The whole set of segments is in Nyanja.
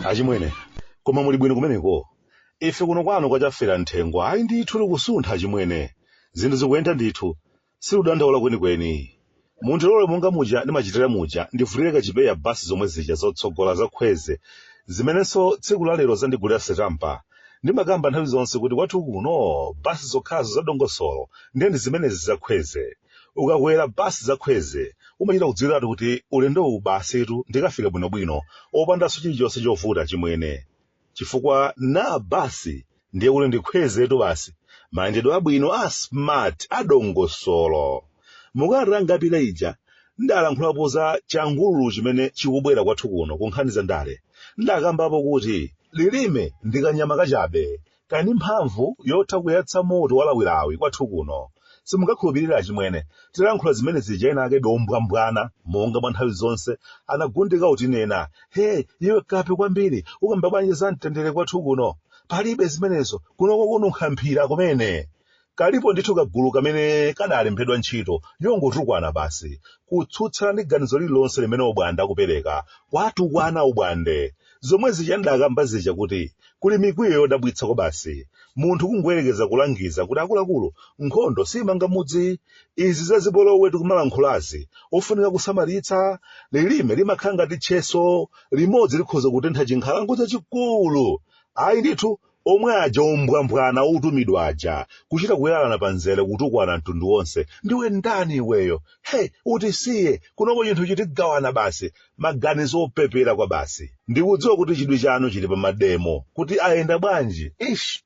achimwene koma muli bwino kumeneko ife kuno kwanu kwa chaferamthengo ayi ndithu likusuntha achimwene zinthu zikuyenda ndithu Siludandaula kwenikweni. Mundilole monga muja ndimachitira muja ndivulire kachipewa basi zomwe zija zotsogola za Kwezy zimenenso tsiku la lero zandigulira sitampa. Ndimakamba nthawi zonse kuti kwathu kuno basi zokhazo za dongosolo ndiye ndi zimenezi za Kwezy. Ukakwera basi za Kwezy umachita kudziwiratu kuti ulendowu basitu ndikafika bwinobwino opandanso chilichonse chovuta, achimwene. chifukwa na basi ndiye kuti ndi kwezytu basi mayendedwe abwino a smart a dongosolo mukalata yapita ija ndalankhulapo za changululu chimene chikubwera kwathu kuno ku nkhani za ndale ndakambapo kuti lilime ndi kanyama kachabe kali ndi mphamvu yotha kuyatsa moto walawilawi kwathu kuno Simungakhulupirire achimwene, titalankhula zimene zija ena ake ombwambwana monga mwa nthawi zonse anagundika kutinena, Hee, iwe kape kwambiri, ukamba bwanji za mtendere kwathu kuno? Palibe zimenezo, kuno kukununkha mphira kumene! Kalipo ndithu kagulu kamene kadalembedwa ntchito yongotukwana basi, kutsutsana ndi ganizo lililonse limene obwande akupereka, kuwatukwana obwande! Zomwe zija ndakamba zija kuti kuli mikwiyo yodabwitsa kwabasi. Munthu kungoyerekeza kulangiza kuti akuluakulu, nkhondo siimanga mudzi. Izi za zipolowe tikumalankhulazi, ofunika kusamalitsa. Lilime limakhala ngati tcheso, limodzi likhoza kutentha chinkhalango chachikulu. Ayi ndithu, Omwe aja ombwambwana otumidwa aja kuchita kuyalana pa nzere kutukwana mtundu wonse ndiwe ndani iweyo hey utisiye kunoko chinthu chitigawana basi maganizo opepera kwabasi ndikudziwa kuti chidwi chanu chili pa mademo kuti ayenda bwanji ish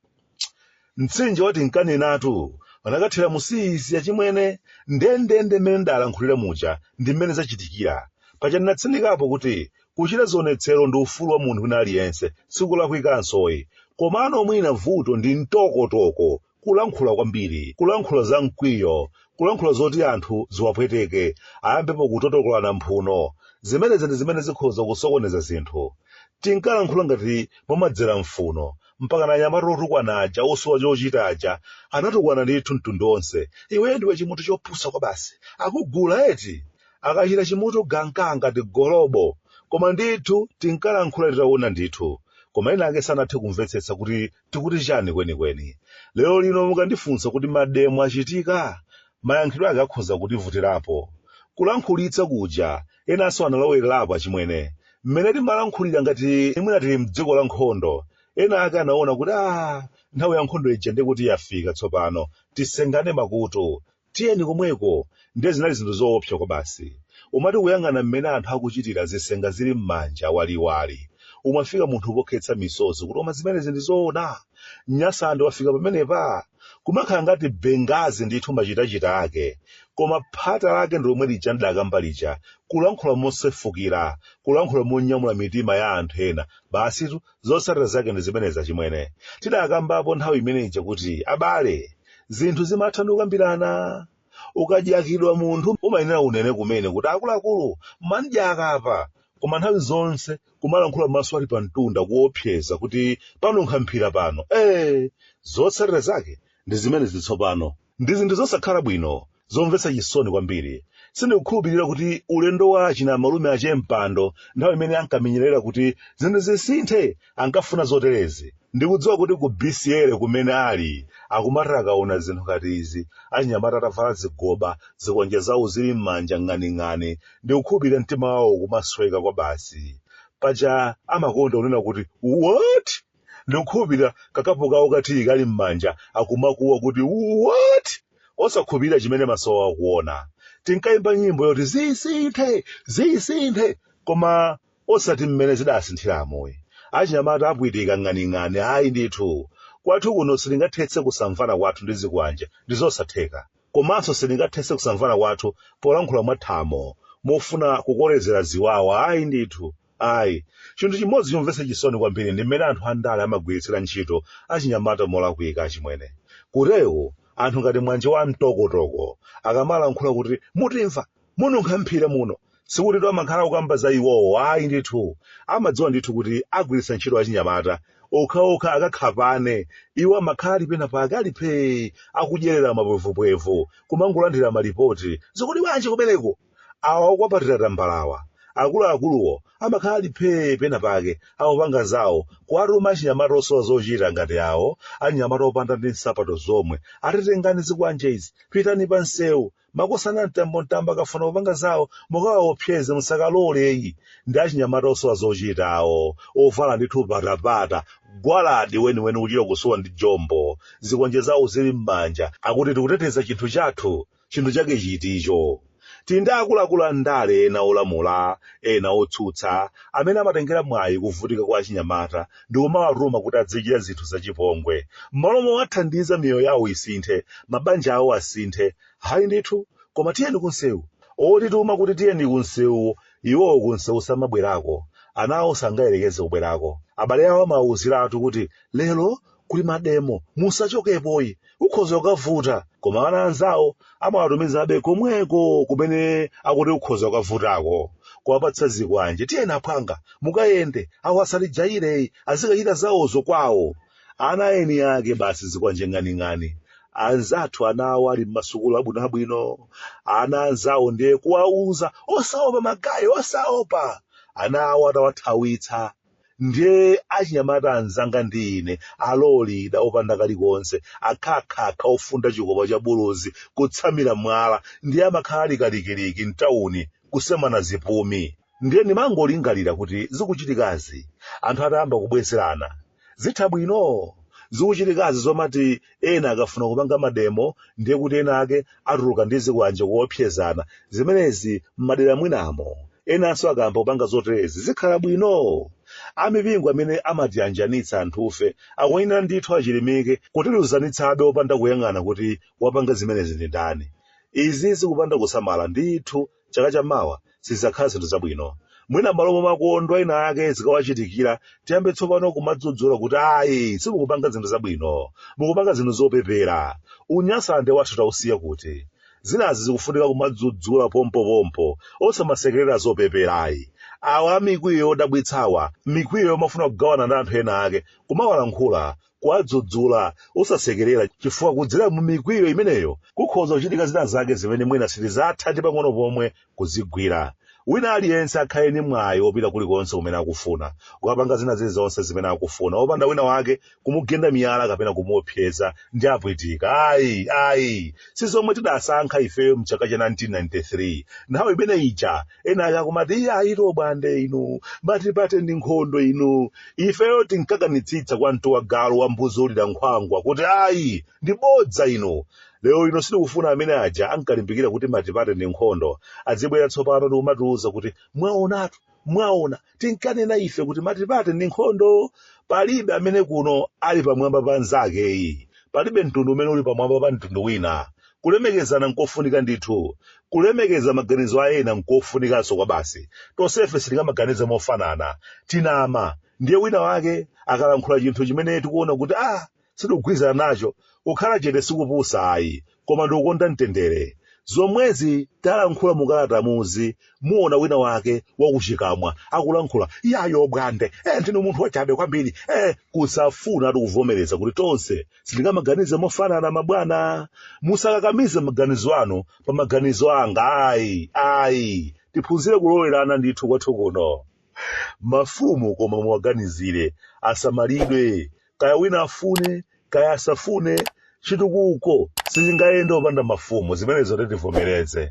mtsinje wa tinkanenatu unakathera mu siizi achimwene ndendende mmene ndalankhulira muja ndi mmene zachitikira paja ndinatsindikapo kuti Kuchita zionetsero ndi ufulu wa munthu wina aliyense, sikulakwikanso ayi. Komano mwina vuto ndi mtokotoko, kulankhula kwambiri, kulankhula za mkwiyo, kulankhula zoti anthu ziwapweteke, ayambepo kutotokolana mphuno. Zimenezi ndi zimene zikhoza kusokoneza zinthu. Tinkalankhula ngati mumadzera m'mphuno, mpakana anyamata otukwana aja, osowa chochita aja, anatukwana ndithu mtundu wonse. Iwe ndiwe chimunthu chopusa kwabasi. Akugula eti? akachita chimutu ganka ngati golobo koma ndithu tinkalankhula titaona ndithu koma ena ake sanathe kumvetsetsa kuti tikuti chani kwenikweni lero lino mukandifunsa kuti mademo achitika mayankhidwe ake akhoza kutivutirapo kulankhulitsa kuja enanso analowererapo achimwene mmene timalankhulira ngati mwina tili mdziko la nkhondo ena ake anaona kuti a nthawi ya nkhondo ija ndiye kuti yafika tsopano tisengane makutu Tiyeni komweko! Ndiye zinali zinthu zoopsa kwabasi. Umati ukuyang'ana mmene anthu akuchitira zisenga zili m'manja waliwali, umafika munthu pokhetsa misozi kuti koma zimenezi ndi zoona? Nyasande wafika pamenepa? Kumakhala ngati Benghazi ndithu machitachita ake. Koma phata lake ndi lomwe lija n'dakamba lija, kulankhula mosefukira, kulankhula monyamula mitima ya anthu ena. Basitu, Zotsatira zake ndi zimenezi achimwene. Tidakambapo nthawi imene ija kuti abale, zinthu zimatha ndi kukambirana. Ukadyakidwa munthu umayenera unene kumene kuti akuluakulu mwandidyaka apa. Koma nthawi zonse kumalankhula maso ali pamtunda kuopseza kuti panunkha mphira pano. Ee! Zotsatira zake ndi zimenezi tsopano. Ndi zinthu zosakhala bwino, zomvetsa chisoni kwambiri. Sindikukhulupirira kuti ulendo wa achina malume a che Mpando nthawi imene ankamenyerera kuti zinthu zisinthe ankafuna zoterezi. Ndikudziwa kuti ku BCA kumene ali akumati akaona zinthu ngati izi, achinyamata atavala zigoba, zikwanje zawo zili m'manja ng'aning'ani, ndikukhulupirira mtima wawo ukumasweka kwabasi. Paja amakonda kunena kuti, What? ndikukhulupirira kakapu kawo ka tiyi kali m'manja akumakuwa kuti what osakhulupirira chimene maso awo akuona tinkayimba nyimbo yoti zisinthe zisinthe koma osati mmene zidasinthiramu ayi achinyamata apwitika ng'aning'ani ayi ndithu kwathu kuno sitingathetse kusamvana kwathu ndi zikwanje ndi zosatheka komanso sitingathetse kusamvana kwathu polankhula mwathamo mofuna kukolezera ziwawa ayi ndithu Ayi. Chinthu chimodzi chomvetsa chisoni kwambiri ndi mmene anthu andale amagwiritsira ntchito achinyamata molakwika, achimwene. Kutero, anthu ngati Mwanje wa mtokotoko akamalankhula kuti mutimva, mununkha mphira muno, sikutitu amakhala akukamba za iwowo ayi ndithu. Amadziwa ndithu kuti agwiritsa ntchito achinyamata okhaokha akakhapane. Iwo amakhala ali penapake, ali phee, akudyerera mapwevupwevu, kumangolandira malipoti. Zikuti bwanji kumeneko? Awa okwapatira tambalawa, akuluakuluwo amakhala ali phee pena pake akupanga zawo, kuwatuma achinyamata osowa zochita ngati awo, achinyamata opanda ndi nsapato zomwe, ati tengani zikwanje izi, pitani pa msewu, makosana mtambo mtambo akafuna kupanga zawo mukawaopseze musakalole ayi, ndi achinyamata osowa zochita awo, ovala ndithu patapata, gwaladi weniweni kuchita kusowa ndi jombo, zikwanje zawo zili m'manja, akuti tikuteteza chinthu chathu, chinthu chake chiti icho tili ndi akuluakulu a ndale ena olamula ena otsutsa amene amatengera mwayi kuvutika kwa achinyamata ndi kumawatuma kuti azichita zinthu zachipongwe m'malo mowathandiza miyoyo yawo isinthe mabanja awo asinthe hayi ndithu koma tiyeni kunsewu otituma kuti tiyeni kunsewu iwowo kunsewu samabwerako ana awo sangayerekeze kubwerako abale awo amawawuziratu kuti lero kuli mademo musachokepoyi ukhoza ukavuta koma ana anzawo amawatumizabe komweko kumene akuti ukhoza ukavutako kuwapatsa zikwanje tiyeni aphwanga mukayende awo asatijayire ayi azikachita zawozo kwawo ana a eni ake basi zikwanje ng'aning'ani anzathu ana awo ali m'masukulu abwinobwino ana anzawo ndiye kuwauza osaopa magayi osaopa ana awo atawathawitsa ndiye achinyamata anzanga ndi ine alolira opanda kalikonse akhakhakha ofunda chikopa cha buluzi kutsamira mwala ndiye amakhala ali kalikiliki mtawuni kusemana zipumi ndiye ndimangolingalira kuti zikuchitikazi anthu atayamba kubwezerana zitha bwino zikuchitikazi zomati ena akafuna kupanga mademo ndiye kuti ena ake atuluka ndi zikwanje kuopsezana zimenezi m'madera mwinamo enanso akayamba kupanga zoterezi zikhala bwino amipingo amene amatiyanjanitsa anthufe akuyenera ndithu achilimike kutiluzanitsabe opanda kuyang'ana kuti wapanga zimenezi ndi ndani izi zikapanda kusamala ndithu chaka cha mawa sizidzakhala zinthu zabwino mwina m'malo momakondwa ena ake zikawachitikira tiyambe tsopano kumadzudzula kuti ayi simukupanga zinthu zabwino mukupanga zinthu zopepera unyasande wathu tiusiye kuti zinazi zikufunika kumadzudzula pompopompo osamasekerera zopeperayi awa amikwiyo yodabwitsawa mikwiyo yomafuna kugawana ndi anthu ena ake kumawalankhula kuwadzudzula osasekerera chifukwa kudzera mu mikwiyo imeneyo kukhoza kuchitika zina zake zimene mwina sitidzatha ndi pang'ono pomwe kuzigwira wina aliyense akhale ndi mwayi wopita kulikonse kumene akufuna kukapanga zina zilizonse zimene akufuna opanda wina wake kumugenda miyala kapena kumuopseza ndi apwitika ayi ayi si zomwe tidasankha ifeyo mchaka cha 1993 nthawi imene ija ena akumati iye ayi to bwande inu matipate ndi nkhondo inu ifeyo tinkakanitsitsa kwa mtu wa galu wa mbuzi ulira nkhwangwa kuti ayi ndi bodza inu lero ino sitikufuna amene aja ankalimbikira kuti matipate ndi nkhondo azibwera tsopano ndikumatiuza kuti mwaonatu mwaona tinkanena ife kuti matipate ndi nkhondo palibe amene kuno ali pamwamba pa mnzakeyi palibe mtundu umene uli pamwamba pa mtundu wina kulemekezana nkofunika ndithu kulemekeza maganizo a ena nkofunikanso kwabasi tonsefe sitingamaganize mofanana tinama ndiye wina wake akalankhula chinthu chimene tikuona kuti ah sindikugwirizana nacho kukhala chete sikupusa ayi koma ndikukonda mtendere zomwezi talankhula mukalatamuzi muona wina wake wakutchi kamwa akulankhula yayo bwande eh, ndinu munthu wachabe kwambiri eh, kusafunatu kuvomereza kuti tonse sitingamaganize mofanana mabwana musakakamize maganizo anu pa maganizo anga ayi ayi tiphunzire kulolerana ndithu kwathu kuno mafumu koma muwaganizire asamalidwe kaya wina afune kaya asafune chitukuko sichingayende opanda mafumu zimenezotu tivomereze.